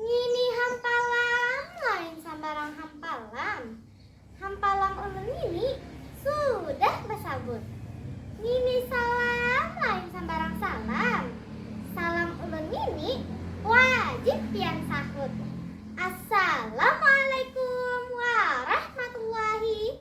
Ngini hampalam lain sambarang hampalam. Hampalam ulun ngini sudah basabut. Ngini salam lain sambarang salam. Salam ulun ngini wajib pian sahut. Assalamualaikum warahmatullahi.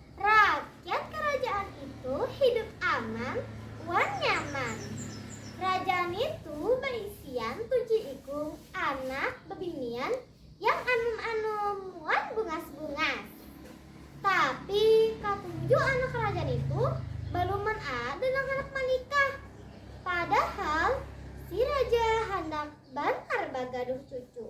Rakyat karajaan itu hidup aman wan nyaman. Raja nitu baisian tujuh ikung anak bebinian yang anum-anum wan bungas-bungas. Tapi katujuh anak raja nitu baluman ada nang handak manikah. Padahal si raja handak banar bagaduh cucu.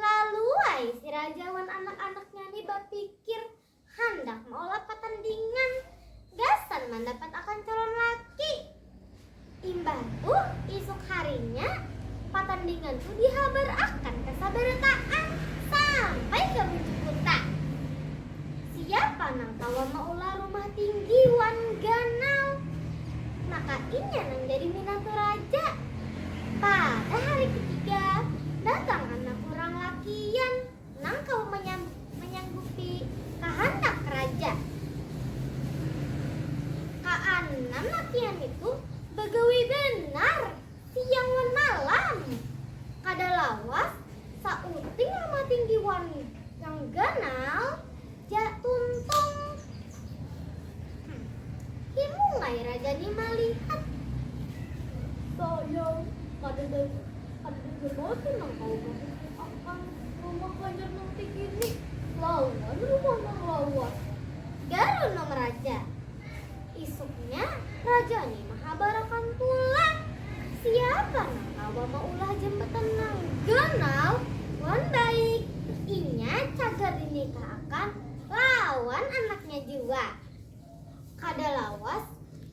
Lalu ai si raja wan anak-anaknya ni bapikir handak maulah patandingan gasan mandapat akan calon laki. Imbah tu isuk harinya patandingan tu dihabar akan ka sabarataan sampai ka bujuk kuta. Siapa nang kawa maulah rumah tinggi wan ganal? Maka inya nang jadi minantu raja. Pada hari ketiga, datang anak urang lakian nang kawa manyanggupi kahandak raja. Kaanam lakian nitu bagawi banar. Siang wan malam. Kada lawas sauting rumah tinggi wan nang ganal ja tuntung. Hm, himung ai raja ni malihat. Sayang, kadada kadada ja batu nang kawa mahukum akan rumah banjar nang tinggi ni lawan rumah nang lawas. Garunung raja. Isuknya, raja ni mahabarakan pulang siapa nang kawa maulah jambatan nang ganal wan baik. Inya cagar dinikah'akan lawan anaknya jua. Kada lawas,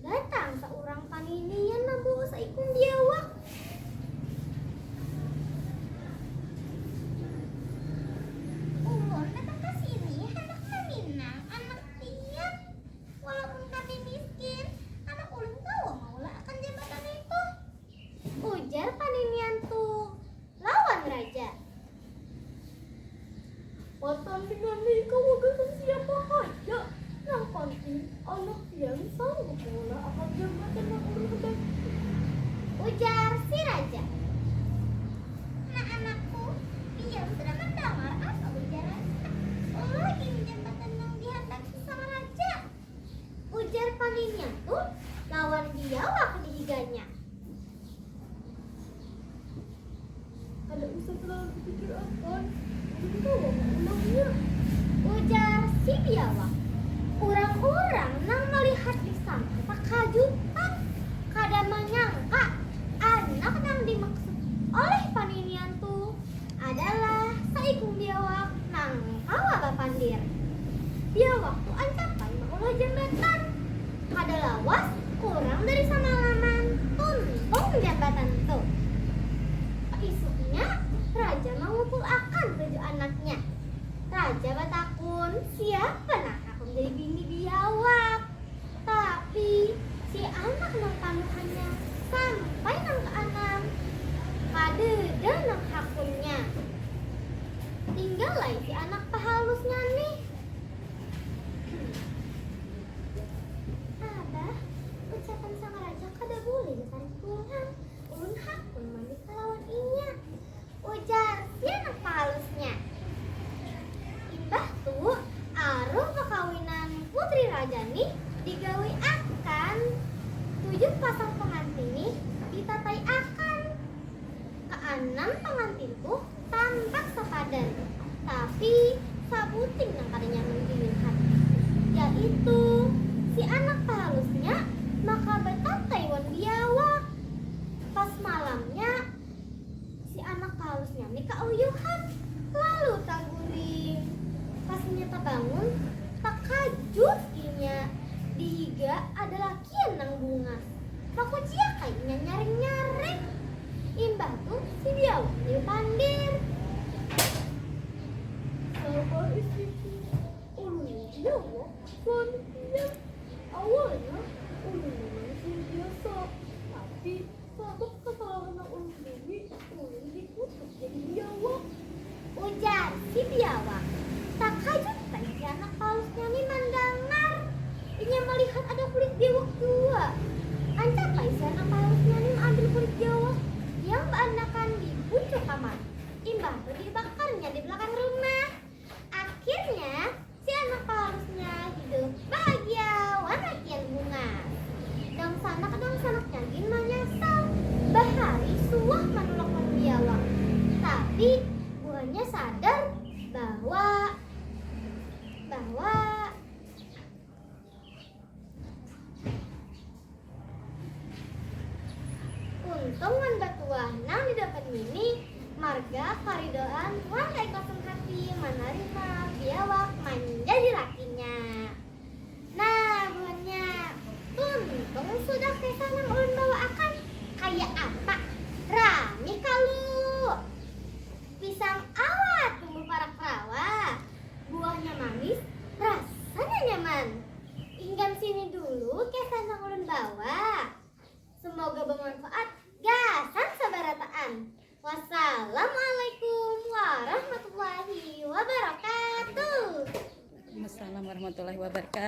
datang saurang paninian mambawa saikung biawak. Umur datang ka sini handak maminang anak pian. Walaupun kami miskin, anak ulun kawa maulah akan jambatan ngitu. Ujar paninian tu lawan raja. Matan pina ni kawa gasan siapa haja, nang panting anak pian sanggup maulah akan jambatan nang ulun handak itu. Ujar si raja. Nah anakku, pian sudah mandangar apa ujarannya. Ulah gin jambatan nang dihandaki. Sangaraja! ujar paninnya tu lawan biawak di higanya. Kada usah talalu bapikir akan, ulun kawa maulangnya, ujar si biawak. Urang-urang nang malihat di sana takajutan, kada manyangka anak nang dimaksud oleh paninnya tu. Adalah saikung biawak nang kawa bapandir. Biawak tu ancapan maulah jambatan. Kada lawas kurang dari samalaman tuntung jambatan tu. Paisuknya raja mangukul akan tujuh anaknya. Raja batakun siapa nang hakun jadi bini biawak. Tapi, si anak nang tanuhannya sampai nang kaanam, kadeda nang hakunnya. Tinggal ai si anak pahalusnya nih. Hmm. Abah, ucapan sang raja kada bulih ditarik pulang. Ulun hakun manikah lawan inya. Ujar si anak pahalusnya. Imbah tu, aruh bakawinan putri raja nih digawi akan, tujuh pasang pangantin nih ditatai akan. Kaanam pangantin tuh tampak sapadan, tapi sabuting nang kada nyaman dilihat, yaitu si anak pahalusnya maka batatai wan biawak. Pas malamnya. Si anak pahalusnya ni kauyuhan lalu taguring. Pas inya tabangun, takajut inya dihiga ada lakian nang bungas. Bakuciak ai inya nyaring-nyaring. Imbah tu si biawak ni bapandir. Sabar isiku, ulun ni biawak wan pian. Awalnya ulun ni manusia biasa, tapi. Sabab kasalahan nang ulun buhi, ulun dikutuk jadi biawak. Ujar si biawak. Takajut ai si anak palusnya ni mandangar inya malihat ada kulit biwak jua. Ancap ai si anak palusnya ni maambil kulit biawak yang baandakan di bucu kamar, imbah tu dibakarnya di balakang rumah. Akhirnya. Si anak paharusnya hidup bahagia wan akhir bunga. Dangsanak-dangsanaknya gin manyasal bahari suah manulak wan biawa. Tapi, buhannya sadar bahwa, bahwa. Untung wan batuah nang didapat ngini marga karidoan wan kaikhlasan hati manarima biawak manjadi lakinya. Nah, buhannya, tuntung sudah keka nang ulun bawa akan. Kaya apa? Rami kalu! Pisang awat tumbuh parak rawa, Buahnya manis, rasanya nyaman. Inggam sini dulu kisah nang ulun bawa. Semoga bemanfaat gasan sabarataan. Wassalamualaikum warahmatullahi wabarakatuh. Wassalamualaikum warahmatullahi wabarakatuh.